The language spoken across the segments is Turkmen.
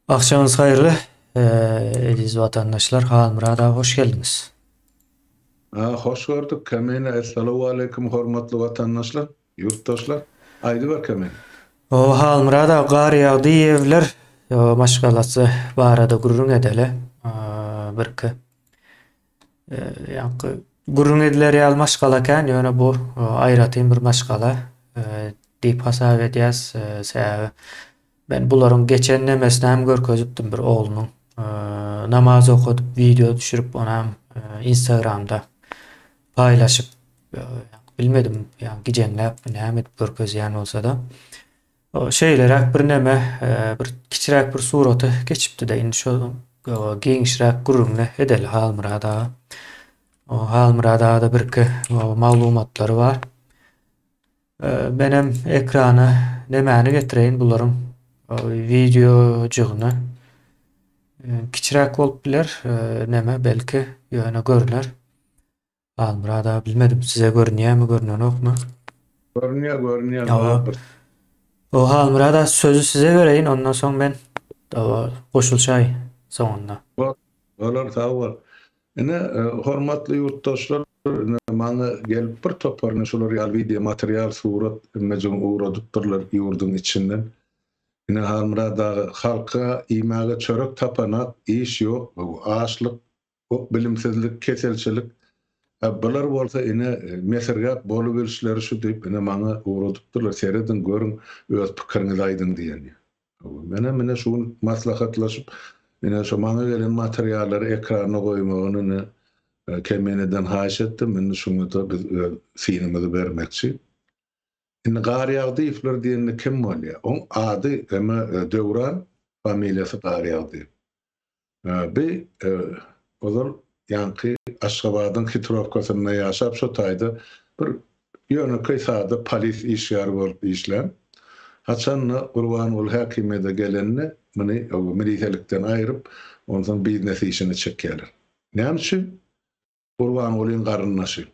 Akşamyňyz haýyrly, eziz watandaşlar, Halmyrat aga hoş geldiňiz. Ha, hoş gördük Kamine. Essalawaleýkum hormatly watandaşlar, ýurtdaşlar. Aýdyber Kamine. O, Halmyrat aga, gar ýagdy, ýewler maşgalasy barada gürrüň edeli. Birki. Ýaňky gürrüň ediler ýaly maşgala kän, ýöne bu aýratyn bir maşgala diýip hasap edýäs. Sebäbi men bularyň geçen nemesini hem görkezipdim bir oglunyň namaz okadyp wideo düşürip ony hem instagramda paýlaşyp bilmedim ýa gijeňläpmi näme edip görkezýän bolsada. Şeýleräk birneme, bir kiçiräk bir surata geçipdi-de, indi şo giňişräk gürrüňini edeli Halmyrat aga. Halmyrat aga-da birki maglumatlary bar. Menem ekrana nemäni getireýin bularyň wideojygyny. Kiçiräk bolup biler, neme, belki, ýöne görüner. Halmyrat aga bilmedim size görünýämi görnenokmy. Görünýär görünýär Awa. bar bir. O Halmyrat aga sözi size bereýin ondan soň men awa goşulşaý soňunda. Bor. Bolar sag bol. Ine e, hormatly ýurtdaşlar ine maňa gelip bir topar ine şular ýaly wideo material surat emmejigim ugradypdyrlar ýurduň içinden. Ine Halmyrat aga halka iýmäge çörek tapanak iş ýok bu açlyk Hok bilimsizlik keselçilik a bular bolsa ine mesirgäp bolubilişleri şu diýip ine maňa ugradypdyrlar serediň görüň öz pikiriňizi aýdyň diýen hawa menem ine şu gün maslahatlaşyp ine şu maňa gelen materiallary ekrana goýmagyny ine kemeneden haýyş etdim indi şuňada biz öz synymyzy bermekçi indi garýagdyýewler diýende kim bolýa oň ady eme döwran familiýasy garýagdyýew Bi, ozal ýaňky Aşgabadyň hitrowkasynda ýaşap, şo taýda bir ýönekeý sada polis işgäri bolup işlän. Haçan-da Gurbanguly häkimiýede gelende, muny milisiýalikden aýryp, onsoň biznes işine çekýärler. Näme üçin? Gurbangulyň garyndaşy.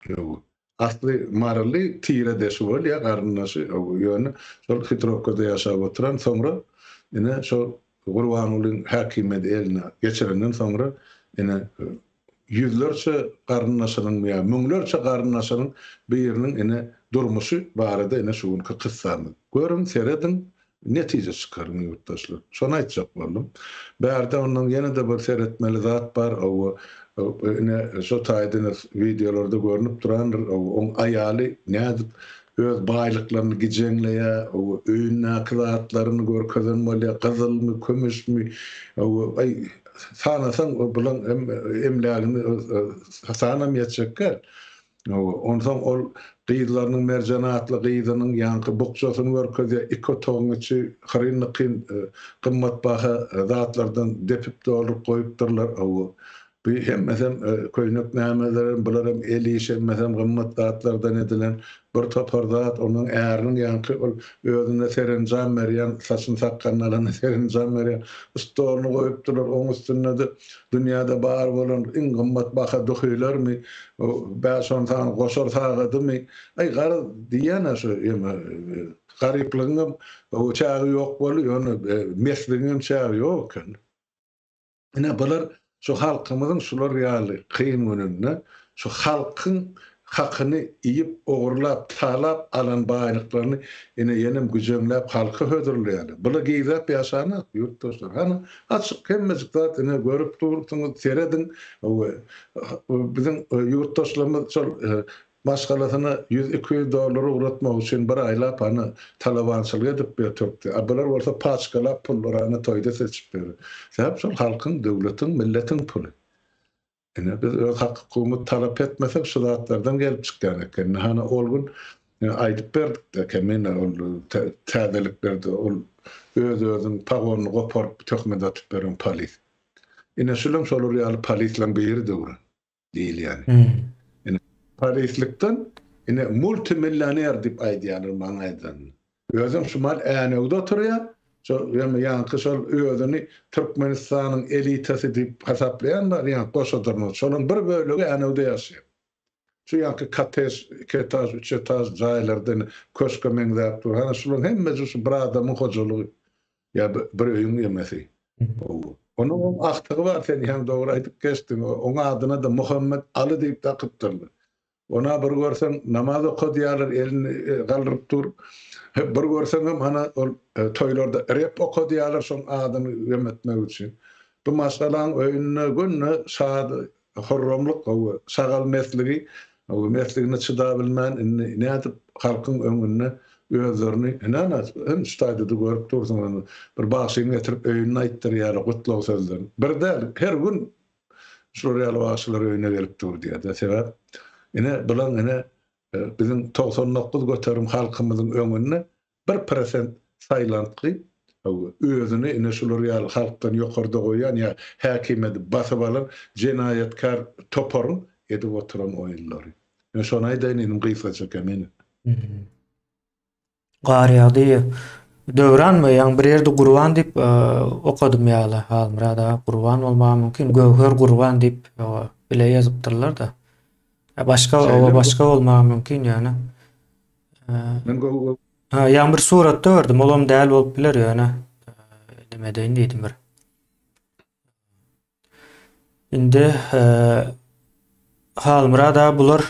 Ýow. Asly maryly tire de şu bolýa garyndaşy ýöne şol Hitrowkada ýaşap oturan soňra ine şo Gurbangulyň häkimiýeti eline geçirenden soňra ine ýüzlerçe garyndaşynyň ýa müňlerçe garyndaşynyň biriniň ine durmuşy barada ine şu günki kyssamy. Görüň serediň Netije çykaryň ýurtdaşlar. Şony aýtjak boldum. Bärde ondan ýene-de bir seretmeli zat bar, ow ine şo taýdan wideolarda görnüp durandyr, ow oň aýaly nädip öz baýlyklaryny gijeňleýä, ow öýündäki zatlaryny görkezen bolýa, gyzylmy, kümüşmi, ow aý sanasaň bulaň hem emlägini sanam ýetjek däl. Hawa, onsoň ol gyzlarynyň Merjen atly gyzynyň ýaňky bukjasyny görkezýär, iki otagyň içi hyryn-nykyn, gymmatbaha zatlardan depip-dolduryp goýupdyrlar. Hawa, bu hemmesem köýnek nämelerem, bularam el işi, hemmesem gymmat zatlardan edilen bir topar zat. Onuň äriniň ýaňky ol özüne serenjam berýän, saçyny-sakgalyny alanda serenjam berýän stolyny goýupdyrlar, oň üstünde-de Dünýäde bar bolan iň gymmat baha duhylarmy, bäş-on sany goşar sagadymy? Aý, garaz, diýýän-ä şu ýene. Garyplygyňam çägi ýok boldy, ýöne mesligiňem çägi ýok ekeni. Ine, bular şu halkymyzyň şular ýaly kyn gününde Şu halkyň hakyny iýip, ogurlap, talap alan baýlyklaryny ene-enem güjeňläp halka hödürleýärler. Bular gizläp ýaşanok, ýurtdaşlar. Hany, açyk, hemmejik zat, ine, görüp durupsyňyz, serediň. Hawa, biziň ýurtdaşlarymyz şol maşgalasyna ýüz-iki ýüz dollar ugratmak üçin bir aýlap, hany, talabançylyk edip biýr tökdi. A bular bolsa paçkalap pullary, hany, toýda seçip biýr. Sebäp şol halkyň, döwletiň, milletiň puly. Ine, biz öz hak-hukugymyzy talap etmesek, şu zatlardan gelip çykýan eken. Ine, hany, ol gün aýdyp berdik-de eken, ine, ol täzeliklerde ol öz-özüň pagonyny goparyp, töhmet atyp beren polis. Ine, şulam şolar ýaly polisleriň biri döwran diýilýän. Ine, polislikden, ine, multimillioner diýip aýdýarlar maňa aýdanyny. Özem şumal äýnewde oturýar. Şo ýa ýaňky şol özüni Türkmenistanyň elitasy diýip hasaplaýan bar ýa goşadyrma. Şolaryň bir bölegi äýnewde ýaşaýar. Şu ýaňky kottej, iki etaž, üç etaž jaýlarda indi köşke meňzäp dur. Hany şularyň hemmesi şu bir adamyň hojalygy ýa bir öýüň emesi. Onuň hem agtygy bar sen hem dogry aýdyp geçdiň. Oň adyna-da Muhammet Aly diýip dakypdyrlar. Ona bir görseň namaz okadýarlar elini galdyryp dur. Bir görseňem ana ol toýlarda rep okadýarlar şoň adyny gem etmek üçin. Bu maşgalaň öýünde günde şad hurramlyk gowy şagal mesligi mesligine çydabilmän indi nädip halkyň öňünde özlerini näme şu taýda-da görüp dursuň bir bagşyny getirip öýünde aýtdyrýarlar gutlag sözlerini. Bir däl her gün Şular ýaly bagşylar öýüne gelip dur diýerdi. Sebäp ine bular ine biziň togsan dokuz göterim halkymyzyň öňünde bir prosent saýlantgy özüni ine şular ýaly halkdan ýokarda goýýan ýa häkimiýeti basyp alan jenaýatkär toparyň edip oturan oýunlary. Men şony aýdaýyn inim gysgaça kemine. Gar ýagdy. Döwran we ýaňy bir ýerde Gurban diýip okadym ýaly Halmyrat aga Gurban bolmagy mümkin. Göwher Gurban diýip bile ýazypdyrlar-da. Başga oba başga bolmagy mümkin ýöne. Men göwher. Ha, ýaňy bir suratda gördüm. Olam däl bolup biler ýöne. Näme edeýin diýdim bir. Indi Halmyrat aga bular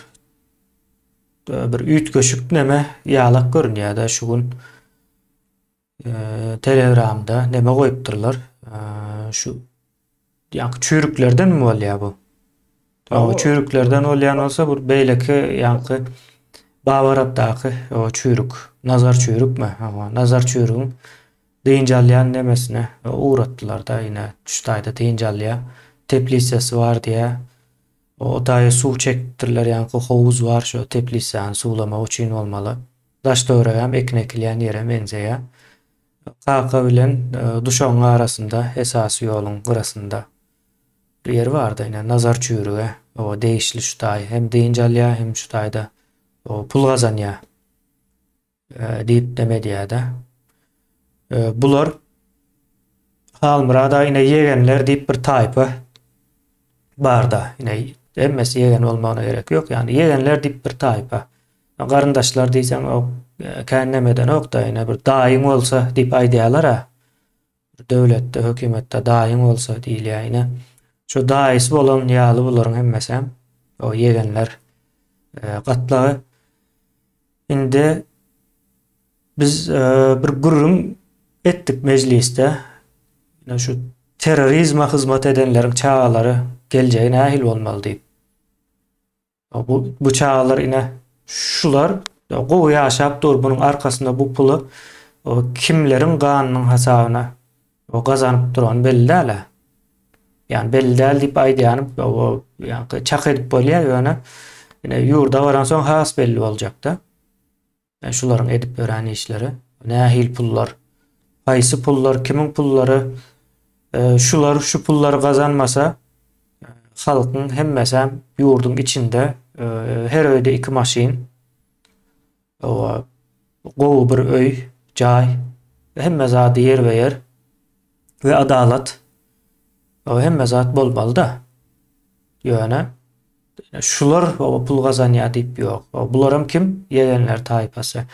bir üýtgeşik neme ýalak görünýär-dä şu gün telegramda neme goýupdyrlar. Şu ýaňky çüýrüklerdenmi bolýar bu? Ýa o çüýrüklerden bolýan bolsa bir beýleki ýaňky Babarapdaky o çüýrük, nazar çüýrükmi? Hawa, nazar çüýrügiň dynç alýan nemesine ugratdylar-da, ine, şu taýda dynç alýar. Teplisesi bar diýýär. O taýy suw çekipdirler, ýaňky howuz bar şo teplisäni suwlamak üçin bolmaly. Daş-töweregi hem ekin ekilýän ýere meňzeýär. Kaka bilen duşagyň arasynda, esasy ýoluň gyrasynda. Bir ýeri bardy, ine, Nazar çüwrüge, oňa degişli şu taý hem dynç alýar, hem şu taýda pul gazanýar diýip dem edýär-de. Bular Halmyrada ine ýegenler diýip bir taýpa barda, ine hemmesi ýegen bolmagyna gerek ýok, ýagny ýegenler diýip bir taýpa. Garyndaşlar diýseň, o kän näme edenok-da, ine bir daýyň bolsa diýip aýdýarlar-a. Bir döwletde, hökümetde daýyň bolsa diýilýär. Ine, şu daýysy bolan ýaly bularyň hemmesem, o ýegenler gatlagy. Indi biz bir gürrüň etdik mejlisde. Ine şu terrorizme hyzmat edenleriň çagalary geljegi nähili bolmaly diýip. Bu bu çagalar ine şular gowy ýaşap dur bunuň arkasynda bu puly kimleriň ganynyň hasabyna gazanyp durany belli däl a. Yani belli däl diýip aýdýanym yani çak edip bolýar ýöne ine ýurda baransoň has belli boljakda. Men şularyň edip örän işleri. Nähil pullar? Haýsy pullar? Kimiň pullary? Şular şu pullary gazanmasa, halkyň hemmesem ýurduň içinde her öýde iki maşyn, owa, gowy bir öý, jaý, hemme zady ýerbe-ýer we adalat, owa, hemme zat bolmaly-da. Ýöne. Şular oba pul gazanýar diýip ýok. Bularam kim? Ýegenler taýpasy.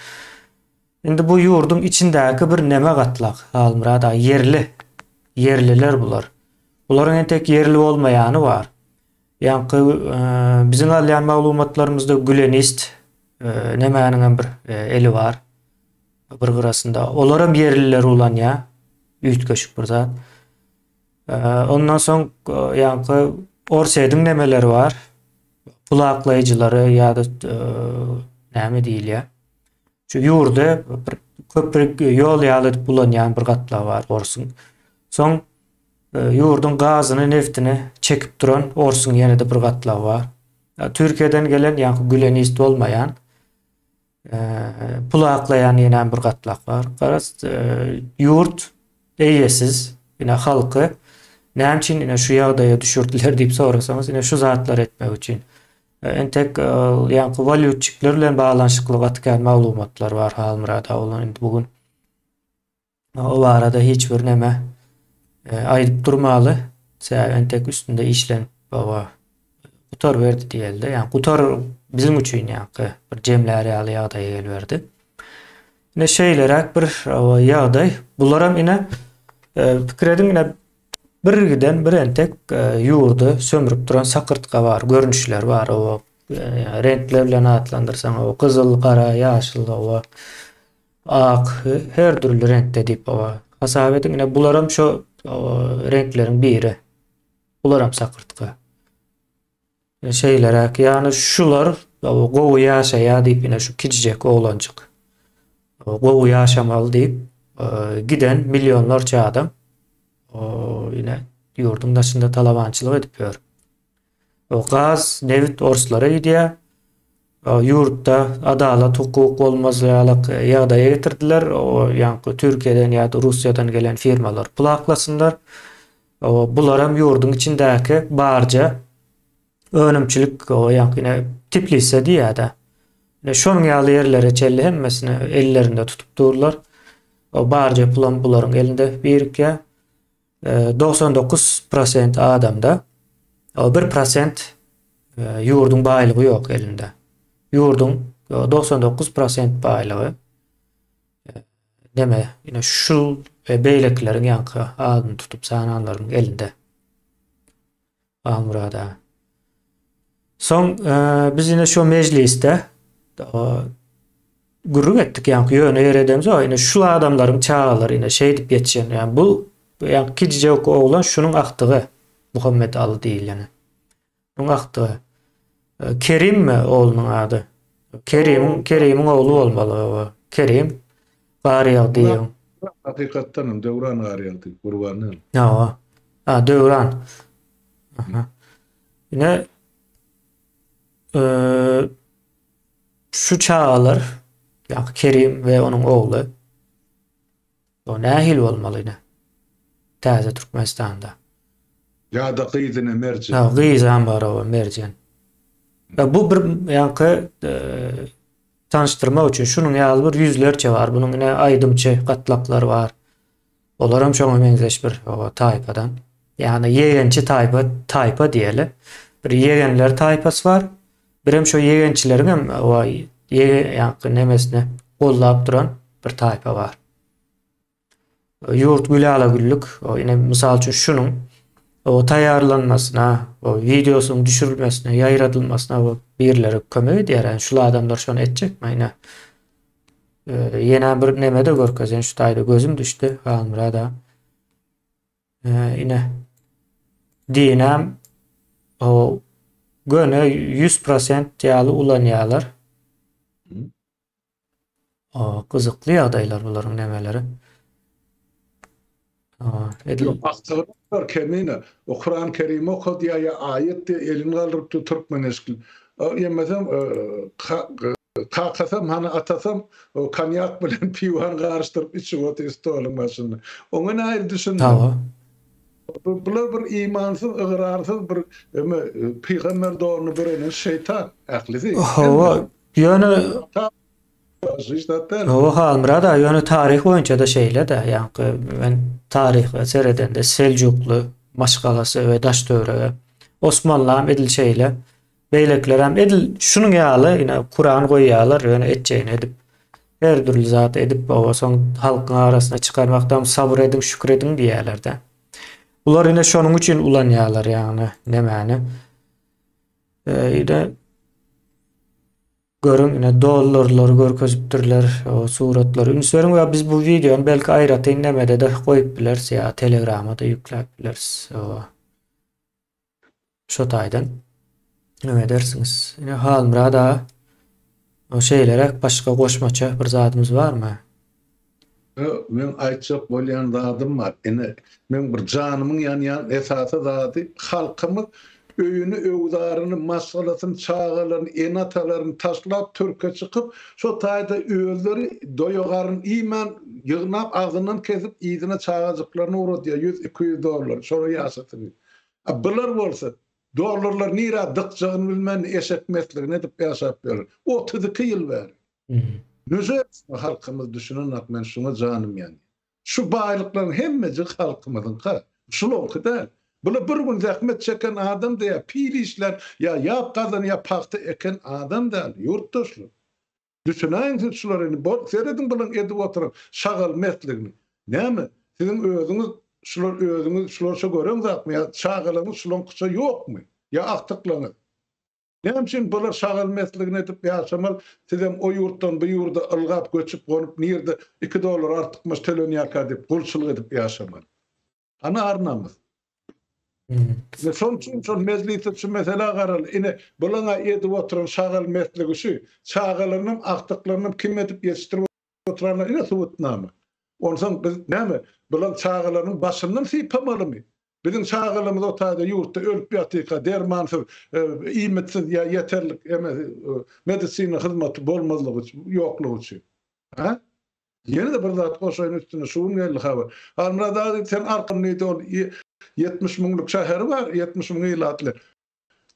Indi bu ýurduň içindäki bir neme gatlak, Halmyrat aga, ýerli. Ýerliler bular. Bularyň entek ýerli bolmaýany bar. Ýaňky biziň alýan maglumatlarymyzda gülenist nemäniňem bir eli bar bir gyrasynda. Olaram ýerliler ulanýar. Üýtgeşik bir zat. Ondan soň ýaňky Orsýe diňlemeleri bar. Pulaklaýjylary ýa-da näme diýilýär. Şu ýurda bir köprik ýol ýaly edip ulanýan bir gatlagy bar orsuň. Soň ýurduň gazyny, neftini çekip duran orsuň ýene-de bir gatlagy bar. Türkiýeden gelen ýaňky gülenist bolmaýan pul aklaýan ýenäm bir gatlak bar. Garaz, ýurt eýesiz, ine halky näme üçin ine şu ýagdaýa düşürdiler diýip sorasaňyz, ine şu zatlary etmek üçin. Entek ýaňky walýutçikler bilen baglanyşykly gaty kän maglumatlar bar Halmyrat aga, indi bu gün O barada hiç bir näme aýdyp durmaly. Sebäbi entek üstünde işlenip baba gutaryberdi diýeli-de. Ýa gutar biziň üçin ýa-ki bir jemlär ýaly ýagdaýa geliberdi. Ine şeýleräk bir ýagdaý. Bularam ine pikir ediň ine birgiden bir entek ýurdy sömrüp duran sakyrtga bar, görnüşler bar. Oba reňkler bilen atlandyrsaň oba gyzyl, gara, ýaşyl oba. Ak, her dürli reňkde diýip hawa. Hasap ediň, ine bularam şo reňkleriň biri. Bularam sakyrtga. E, Şeýleräk, ýagny şular gowy ýaşaýar diýip, ine şu kiçijek oglanjyk. Gowy ýaşamaly diýip, e, giden millionlarça adam o, ine ýurduň daşynda talabançylyk edip ýör. O gaz, nebit orslara gidýär. Ýurtda adalat, hukuk bolmaz ýalyk ýagdaýa getirdiler. O ýaňky Türkiýeden ýa-da Russiýadan gelen firmalar pul aklasynlar. O bularam ýurduň içindäki barja önümçilik o ýaňky ine Tiplise diýýär-de. Ine şonuň ýaly ýerlere çenli hemmesini ellerinde tutup durlar. O barja pulam bularyň elinde birikýär. Togsan dokuz prosent adamda, o bir prosent ýurduň baýlygy ýok elinde. Ýurduň togsan dokuz prosent baýlygy neme, ine şu we beýlekileriň ýaňky adyny tutup sananlaryň elinde. Halmurad aga. Soň biz ine şo mejlisde gürrüň etdik ýaňky ýöne ýer edemzok. Ine şul adamlaryň çagalary ine şeýdip ýetişen. Ýa bu ýaňky kijijewk oglan şunuň agtygy Muhammet Aly diýileni. Şunuň agtygy. Kerim mi oglunyň ady? Kerimiň Kerimiň ogly bolmaly hawa. Kerim Garýagdyýewiň. Hakykatdan hem Döwran Garýagdyýew, Gurban däl. Hawa. A, Döwran. Aha. Ine şu çagalar, ýa Kerim we onuň ogly. Bu nähili bolmaly ine? Täze Türkmenistanda. Ýada gyz ine merjen. Ýa gyzam bar oba merjen. Ýa bu bir ýaňky tanyşdyrmak üçin şunuň ýaly bir ýüzlerçe bar. Bunuň ine aýdymçy gatlaklary bar. Olaram şoňa meňzeş bir oba taýpadan. Ýagny ýegençi taýpa taýpa diýeli. Bir ýegenler taýpasy bar. Birem şo ýegençileriňem waý, ýege ýaňky nemesini goldap duran bir taýpa bar. Ýurt güle ala güllük, o ine mysal üçin şunuň o taýýarlanmasyna, o wideosynyň düşürilmesine, ýaýradylmasyna bu birileri kömek edýär. Yani şul adamlar şony etjekmi ine? Ýene bir neme de görkezen şu taýda gözüm düşdi Halmyrada. Ee, ine. Dinäm o göne 100% ýaly ulanýarlar. O gyzykly ýagdaýlar bularyň nämeleri. Aa, edil Aktarlar kemine. O Kuran Kerim okadýa ýa aýat diýe elini galdyrypdy türkmen eşkil. Ýemesem Kakasam, hany atasam, konýak bilen piwany garyşdyryp içip otyr stoluň başynda. Oňa nähili düşündiň? Bular bir imansyz, ygrarsyz bir eme pygamber donuny bürenen şeýtan ählisi. Hawa, ýöne Hawa, Halmyrat aga, ýöne taryh boýunça-da şeýle-dä. Ýaňky men taryha seredende Seljukly maşgalasy we Daştöwerege Osmanlam edil şeýle. Beýlekilerem edil şunuň ýaly ine Kuran goýýarlar ýöne etjegini edip her dürli zat edip oba soň halkyň arasyna çykarmakdam sabyr ediň şükür ediň diýýärlerde. Bular ine şonuň üçin ulanýarlar ýagny nemäni. Ýa-da görüň ine dollarlary görkezipdirler o suratlary üns beriň we biz bu wideony belki aýratyn nemede-de goýup bileris ýa telegramada ýükläp bileris. Şo taýdan name edersiňiz? Ine Halmyrat aga o şeýleräk başga goşmaça bir zadymyz barmy? Ýo, meň aýtjak bolýan zadym bar. Ine, meň bir janymyň ýanýan esasy zady halkymyz öýüni, öwzaryny, maşgalasyny, çagalaryny, ene-atalaryny taşlap törke çykyp, şo taýda özleri doýa-garyn iýmän, ýygnap, agzyndan kesip, yzyna çagajyklaryny ugradýar, ýüz, iki ýüz dollar, şolar ýaşasyn diýip. A bular bolsa, dollarlar nirä dykjagyny bilmän, eşek mesligini edip ýaşap ýörler. Otuz iki ýyl bäri. Nüje etsin halkymyz düşünenok, men şuňa janym ýanýar. Şu baýlyklaryň hemmejik halkymyzyňka. Şulaňky däl. Bular bir gün zähmet çeken adam-da ýa pil işlän, ýa ýap gazan, ýa pagta eken adam däl, ýurtdaşlar. Düşünäýiň siz şulara indi bolup serediň bulan edip oturan şagal mertligini. Näme, siziň özüňiz şular özüňiz şularça gören zatmy ýa çagalaňyz şulaňkyça ýokmy? Ýa agtyklaňyz? Näme üçin bular şagal mertligini edip ýaşamal sizem o ýurtdan bu ýurda ylgap göçüp gonup nirde iki dollar artykmaç tölenýärka diýip gulçylyk edip ýaşamal. Ana arnamyz. Ve şol üçin şol mejlisde şu meselä garaly. Ine, bulaň edip oturan şagal mertligi şu. Çagalarynyň agtyklarynyň kim edip ýetişdirip oturanyna ine subutnama. Onsoň biz näme, bulaň çagalarynyň başyndan sypamalymy? Biziň çagalarymyz o taýda ýurtda ölüp ýatyka, dermansyz, iýmitsiz ýa ýeterlik emesi, medisina hyzmaty bolmazlygy üçin, ýoklugy üçin. Hä? Ýene-de bir zat goşaýyn üstüne, şu gün geldi habar. Halmyrat aga diýdi, sen Arkan diýdi, ol ýetmiş müňlük şäheri bar, ýetmiş müň ilatly.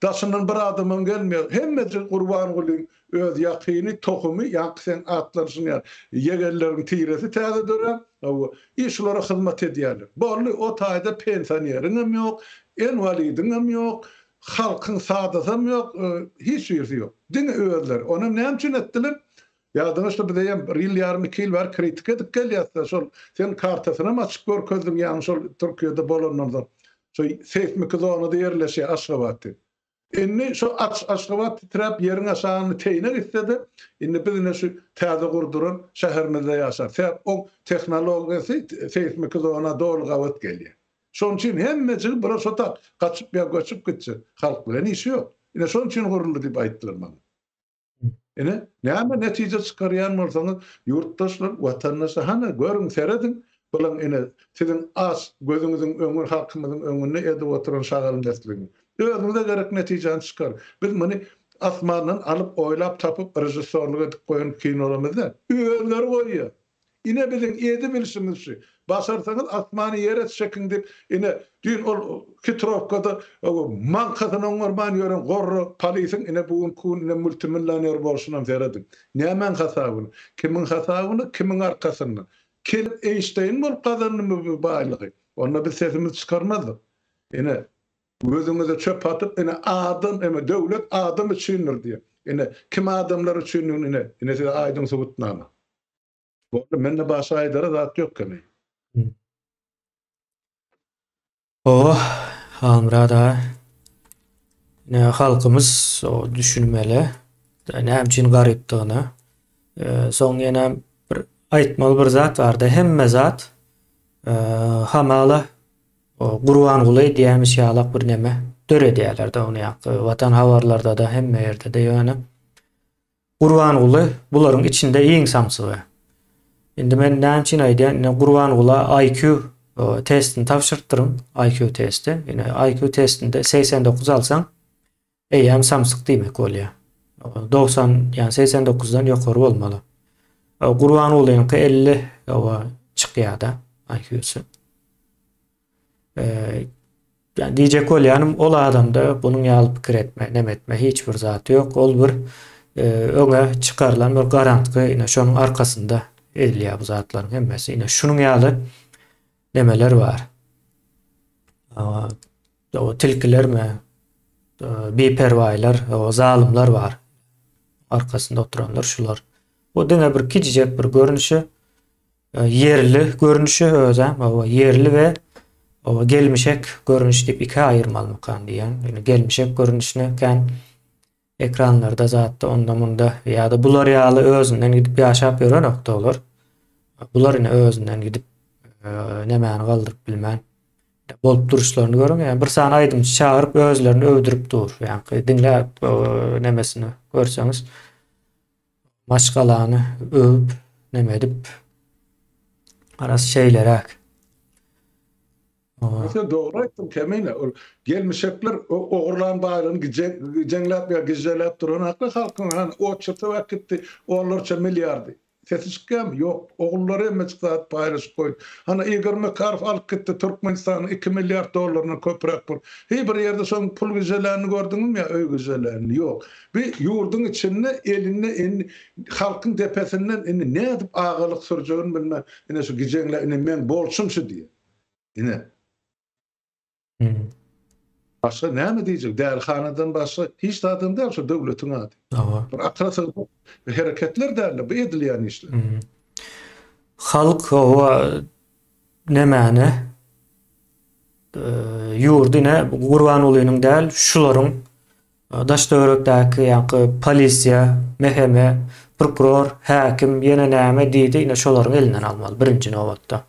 Daşyndan bir adamam gelmeýär. Hemmesi Gurbangulyň öz ýakyny, tohumy, ýaňky seň atlanyşyň ýaly, ýegenleriň tiresi täze dörän, hawa, i şulara hyzmat edýärler. Boldy, o taýda pensioneriňem ýok, enwalidiňem ýok, halkyň sadasam ýok, hiç birisi ýok. Diňe özleri. Onam näme üçin etdiler? Ýadyňyzda biz eýýäm bir ýyl ýarym iki ýyl bäri kritika edip gelýäsda şol sen kartasynam açyp görkezdiň ýaňy şol Türkiýede bolandan soň şo seýsmiki zonada ýerleşýär Aşgabat diýip. Indi şo aç Aşgabat titräp ýeriň aşagyny teýine gitsede indi biz ine şu täze gurduran şäherimizde ýaşar sebäp oň tehnologiýasy seýsmiki zona doly gabat gelýär. Şonuň üçin hemmejigi bura şo tak gaçyp ýa göçüp gitjek halk bilen işi ýok. Ine şonuň üçin guruldy diýip aýtdylar maňa. Ine, näme netije çykarýan bolsaňyz, ýurtdaşlar, watandaşlar, hany, görüň, serediň, bulaň, ine, siziň aç gözüňiziň öňü, halkymyzyň öňünde edip oturan şagalmezligiňi. Özüňize gerek netijäni çykaryň. Biz muny asmandan alyp, oýlap tapyp, režissýorlyk edip goýan kinolarymyz däl. Özleri goýýar. Ine biziň edi bilşimiz şu. Başarsaňyz asmany ýere çekiň diýip ine düýn ol hitrowkada maňkasyny oňarman ýören gorra polisiň ine bu günki gün ine multimillioner bolşunam serediň. Nämäň hasabyna? Kimiň hasabyna? Kimiň arkasynda? Kelip Eýnşteýn bolup gazandymy bu baýlygy? Onda biz sesimizi çykarmazdyk. Ine gözüňize çöp atyp ine adam ine döwlet adam üçindir diýip. Ine kim adamlar üçindigini ine ine size aýdyň subutnama. Boldy, mende başga aýdara zat ýok kemi. Oh, Halmyrat aga. Ne halkymyz o düşünmeli. Näme üçin garypdygyny. E, soň ýene bir aýtmaly bir zat bardy. Hemme zat e, hamala o Gurbanguly diýmiş ýalak bir neme döredýärler de ony ýakda. Watan habarlarda da hemme ýerde de ýöne Gurbanguly bularyň içinde iň samsygy. Indi men näme üçin aýdýan, ine Gurbangula IQ e, testini tabşyrypdyryn, IQ testi. Ine IQ testinde 89 alsaň, eýýäm samsyk diýmek bolýar. 90, ýani 89-dan ýokary bolmaly. Gurbangulynyňky 50 owa çykýar-da IQ-sy. Eee, ýa diýjek bolýanym, ol adamda bunuň ýaly pikir etme, neme etme hiç bir zat ýok. Ol bir, eee, öňe çykarylan bir garantgy, ine, şonuň arkasynda edilýär bu zatlaryň hemmesi. Ine, şunuň ýaly nemeler bar. Aaa, o tilkilermi, eee, biperwaýlar, o zalymlar bar. Arkasynda oturanlar şular. Bu diňe bir kiçijek bir görnüşi, E, ýerli görnüşi özä oba ýerli we oba gelmişek görnüş diýip ikä aýyrmalymykan diýýän. Ýöne gelmişek görnüşine kän ekranlarda zatda onda munda ýa-da bular ýaly özünden gidip ýaşap ýörenok olar. Bular ine özünden gidip e, nemäni galdyryp bilmän bolup duruşlaryny görüň. Yani bir sany aýdymçy çagyryp özlerini öwdürip dur. Yani diňläp e, nemesini görseňiz maşgalany öwüp neme edip halas şeýleräk. Ýöne dogry aýtdyň Kemine ol gelmişekler ogurlan baýlygyny gijeňläp ýa gižželäp duran akly halkyň han oçurtap äkitdi onlarça milliardy. Sesi çykýamy? Ýok. Ogullary hemmejik zat paýlaşyp goýdy. Hany Igor Makarow alyp gitdi Türkmenistanyň iki milliard dollaryndan köpräk pul. Hi bir ýerde şoň pul gižželänini gördüňizmi ýa öý gižželänini? Ýok. Bu ýurduň içinde elinde indi halkyň depesinden indi nädip agalyk sürjegini bilmän ine şu gijeňler ine meň bolşum şu diýýär. Ine. Başga näme diýjek dälihanadan başga hiç zadam däl şu döwletiň ady. Bir akyla sygmaýan hereketler däldir bu edilýän işler. Halk oba nämäni ýurdy ine Gurbangulynyň däl şularyň Daş-töwerekdäki ýaňky polisiýa, MHM, prokuror, häkim ýene näme diýdi, ine şolaryň elinden almaly birinji nobatda.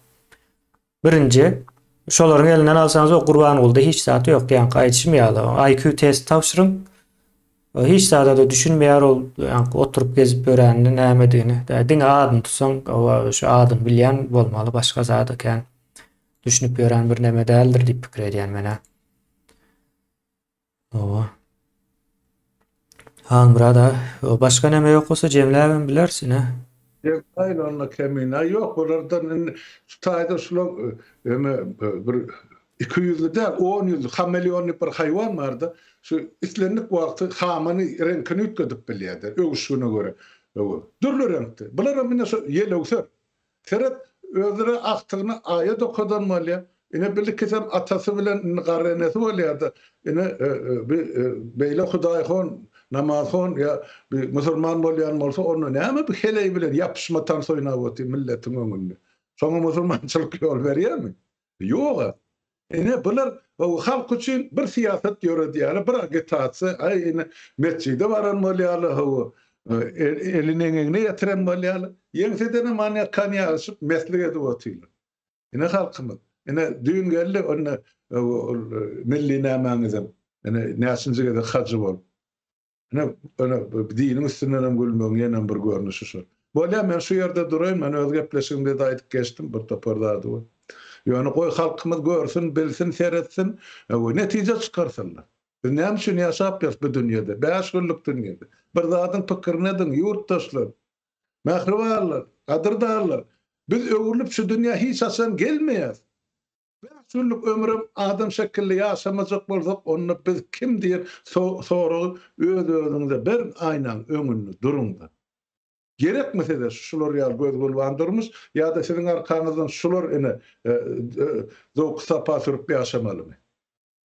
Birinji şolaryň elinden alsaňyz o Gurbangulyda hiç zat ýok, ýaňky aýdyşym ýaly IQ test tabşyryň, hiç zada-da düşünmeýär ol ýaňky oturyp gezip ýöränini nämedigini, diňe adyny tutsaň oba şu adyny bilýän bolmaly başga zada kän düşünip ýören birneme däldir diýip pikir edýän men-ä. Hawa. Halmyrat aga, başga näme ýok bolsa jemläbem bileris ine. Jemläýin onda kemine. Ýok, bulardan indi şu taýda şular ýöne bir iki ýüzli däl, on ýüzli, hameleon diýip bir haýwan bar-da, şu islendik wagty hamyny, reňkini üýtgedip bilýär-de, öwüşgine görä. Dürli reňkde. Bularam ine şu ýelöwser. Seret, özüne agtygyny aýa dokadan bolýa. Ine birlikisem atasy bilen indi garry enesi bolýada. Ine bi beýle hudaýhon, namazhon ýa bi musurman bolýan bolsa onda näme bi heleý bilen ýapyşma tans oýnap otyr milletiň öňünde. Soňa musurmançylyk ýol berýämi? Ýoga, ine bular halk üçin bir syýasat ýöredýärler, bir agitasiýa, aý ine metjide baran bolýarlar, hawa, elini eňegine ýetiren bolýarlar, ýeňsedenem many ýakan ýazyşyp meslik edip otyrlar. Ine halkymyz, ine düýn geldi onda ol milli nämäňizem, ine näçinji gezek hajy bolup. Ine, ine, diniň üstündenem gülmegiň ýenem bir görnüşi şo. Bolýa, men şu ýerde duraýyn, men öz gepleşigimde-de aýdyp geçdim, bir topar zady bar. Ýöne goý, halkymyz görsün, bilsin, seretsin, goý, netije çykarsynlar. Biz näme üçin ýaşap ýörüs bu dünýede, bäş günlük dünýede? Bir zadyň pikirini ediň, ýurtdaşlar, mähribanlar, gadyrdanlar! Biz öwrülip şu dünýä hiç haçan gelmeýäs. Bäş ýyllyk ömrem adam şekilli ýaşamajak bolsak, onda biz kim diýen soragy öz-özüňize beriň, aýnaň öňünde duruň-da. Gerekmi size şular ýaly göz-gülban durmuş, ýa-da siziň arkaňyzdan şular ene zowky-sapa sürüp ýaşamalymy?